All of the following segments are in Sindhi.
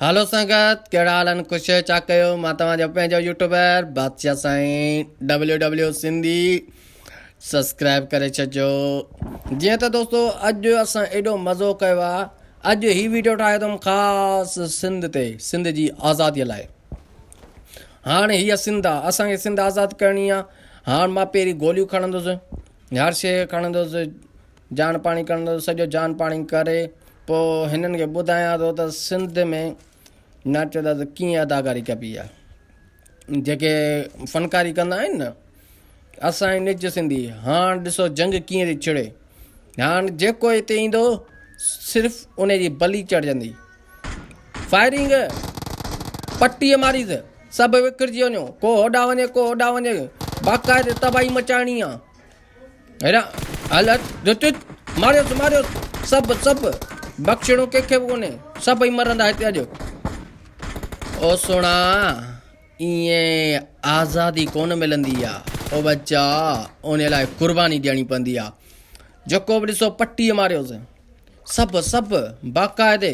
هالو سنگت ڪهڙا حال ان خوش چا ڪيو مان توهان جو پنهنجو يوٽيوبر بادشاهه سائين ڊبليو ڊبليو سنڌي سبسڪرائب ڪري ڇڏجو جيئن ته دوستو اڄ اسان ايڏو مزو ڪيو آ اڄ هي ويڊيو ٺاهيو تم خاص سنڌ تي سنڌ جي آزادي لاء هاڻ هي سنڌ آ اسان کي سنڌ آزاد ڪرڻي آ هاڻ مان پيري گوليون کڻندس هر شي کڻندس جان پاڻي ڪرڻ ٿو سڄو جان پاڻي ڪري پو هنن کي ٻڌايان ٿو ته سنڌ ۾ ناچو ٿا ته ڪيئن اداڪاري ڪبي آ جيڪي فنڪاري ڪندا آهن نه اسان جي نج سنڌي هاڻ ڏسو جنگ ڪيئن ٿي ڇڙي هاڻ جيڪو هتي ايندو صرف ان جي بلي چڙهجندي فائرنگ پٽي ماري ته سڀ وڪڙجي وڃو ڪو هوڏا وڃي ڪو هوڏا وڃي باقاعدي تباهي مچائڻي آ هل هٽ چت چت ماريوس ماريوس سڀ سڀ بخشڻو ڪنهن کي به ڪونهي سڀئي مرندا هتي اڄ او سونا ائين آزادي ڪونه ملندي آهي او بچا ان لاء قرباني ڏيڻي پوندي آهي جيڪو به ڏسو پٽي ماريوس سڀ سڀ باقاعدي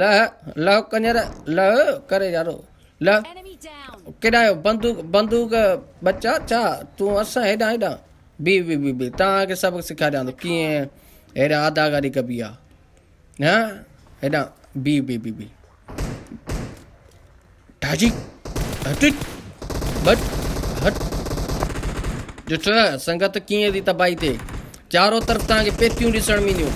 لئه لئه ڪنجر لئه ڪري يارو لئه ڪيڏانهن آيو بندوق بندوق ٻچا ڇا تون اسان هيڏانهن هيڏانهن بي بي بي بي توهانکي سبق سيکاريان ٿو ڪيئن هيڏانهن اداڪاري ڪبي آ ها هيڏانهن بي بي بي بي ڍاجي هٽٽ ٻٽ هٽ جٺڙ سنگت ڪيئن ٿي تباهي ٿئي چارو طرف توهان کي پيتيون ڏسڻ ۾ اينديون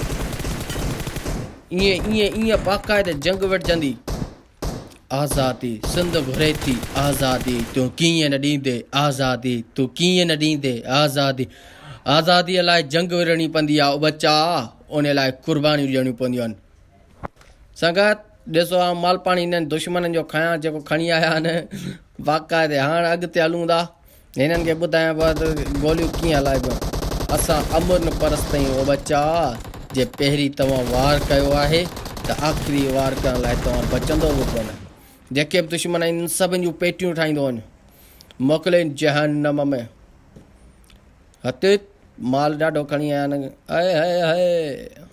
ايئن ايئن ايئن باقاعده جنگ وڙجندي آزادي سنڌ گهري ٿي آزادي تون ڪيئن نه ڏيندي آزادي تون ڪيئن نه ڏيندي آزادي آزادي لاء جنگ وڙهڻي پوندي آهي ٻچا ان لاء قربانيون ڏيڻيون پونديون آهن سنگت! ڏسو آئون مالپاڻي هنن دشمنن جو کانئان جيڪو کڻي آيا آهن. باقاعدي هاڻ اڳتي هلون ٿا. هنن کي ٻڌايان پيو ته گوليون ڪيئن هلائبيون. اسان امرن پرستيون او ٻچا! جي پهرين توهان وار ڪيو آهي ته آخري وار ڪرڻ لاء توهان بچندو به ڪونه. جيڪي به دشمن آهن انهن سڀن جون پيٽيون ٺاهيندو وڃ. موڪلين جهنم ۾. هتيت مال ڏاڍو کڻي آيا آهن. هئي هئي هئي.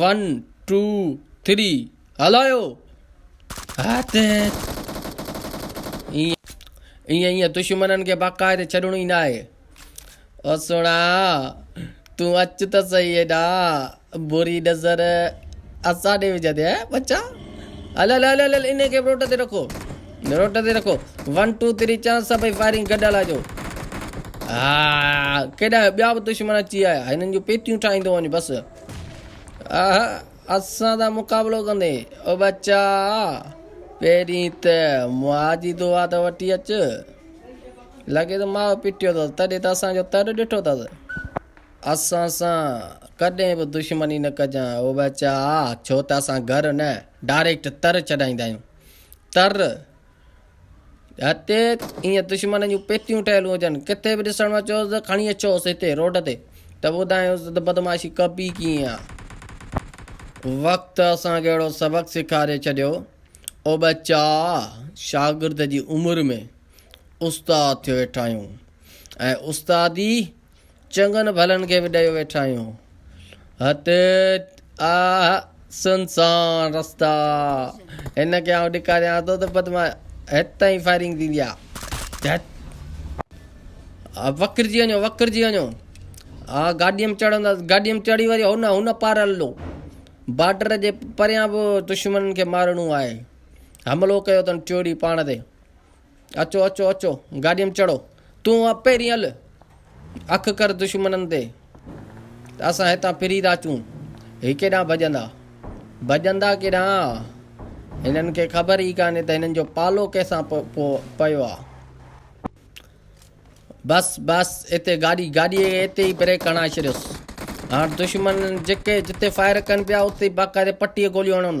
ون ٽو ٿري هلايو هٿ ايئن ايئن دشمنن کي باقاعدي ڇڏڻو ئي ناهي او سهڻا تون اچ ته سهي هيڏا بري نظر اسان ڏي وجهندي بچا هل هل هل هل ان کي روڊ تي رکو روٽ تي رکو ون ٽو تري چار سڀئي فائرنگ گڏ هلائجو ها ڪيڏا ٻيا به دشمن اچي آيا هنن جون پيتيون ٺاهيندو وڃ بس آها اسان دا مقابلو ڪندي او بچا پهرين ته ماء جي دعا ته وٺي اچ لڳي ته ماء پيٽيو اٿس تڏهن ته اسان جو تر ڏٺو اٿس اسان سان ڪڏهن به دشمني نه ڪجان او بچا ڇو ته اسان گهر نه ڊائريڪٽ تر چڏائيندا آهيون تر، هتي ائين دشمن جون پيتيون ٺهيل هجن، ڪٿي به ڏسڻ ۾ اچيوس ته کڻي اچوس هتي روڊ تي ته ٻڌايونس ته بدمعاشي ڪبي ڪيئن آ. وقت اسان کي اهڙو سبق سيکاري ڇڏيو، او ٻچا! شاگرد جي عمر ۾ استاد ٿيو ويٺا آهيون ۽ استادي چڱن ڀلن کي به ڏيو ويٺا آهيون. هت آ سنسان رستا هن کي آئون ڏيکاريان ٿو ته پت مان هت تائين فائرنگ ٿيندي آ وڪرجي وڃو وڪرجي وڃو آ گاڏيء ۾ چڙهندا گاڏيء ۾ چڙهي وري هن هن پار هلو بارڊر جي پريان به دشمنن کي مارڻو آهي حملو ڪيو اٿن چوڏهي پاڻ تي اچو اچو اچو گاڏيء م چڙهو. تون اب پهرين هل اک ڪر دشمنن تي ته اسان هتان ڦري ٿا اچون. هي ڪيڏانهن ڀڄندا؟ ڀڄندا ڪيڏانهن آ؟ هنن کي خبر ئي ڪانهي ته هنن جو پالو ڪنهن سان پيو آ. بس بس اتي گاڏي گاڏيء کي اتي ئي بريڪ هڻائي ڇڏيوس. هاڻ دشمن جتي فائر ڪن پيا اتي باقاعدي پٽيء گوليون هڻن.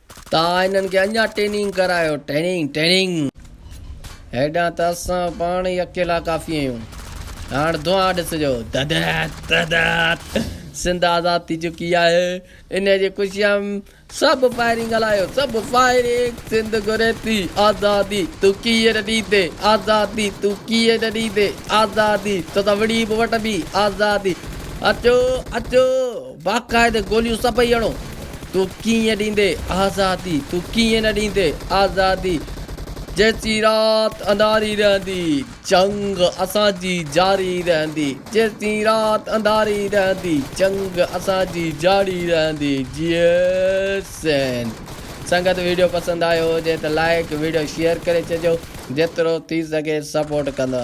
تان هنن کي اڃا ٽيننگ ڪرايو ٽيننگ ٽيننگ. هيڏانهن ته اسان پاڻ ئي اڪيلا ڪافي آهيون هاڻ دونهان ڏسجو ددت ددت سنڌ آزاد ٿي چڪي آهي انهي جي خوشيء م سڀ فائرنگ هلايو سڀ فائرنگ سنڌ گهري ٿي آزادي تون ڪيئي نه ڏيندي آزادي تون ڪيئي نه ڏيندي آزادي توسان وڙهي به وٺندي آزادي اچو اچو باقاعدي گوليون سڀئي اڻو. تون ڪيئن ڏيندي آزادي، تون ڪيئن نه ڏيندي آزادي، جيسين رات انڌاري رهندي، جنگ اسان جي جاري رهندي، جيسين رات انڌاري رهندي، جنگ اسان جي جاري رهندي، جئي سنڌ. سنگت ويڊيو پسند آيو هجي ته لائيڪ ويڊيو شيئر ڪري ڇڏجو جيترو ٿي سگهي سپورٽ ڪندا.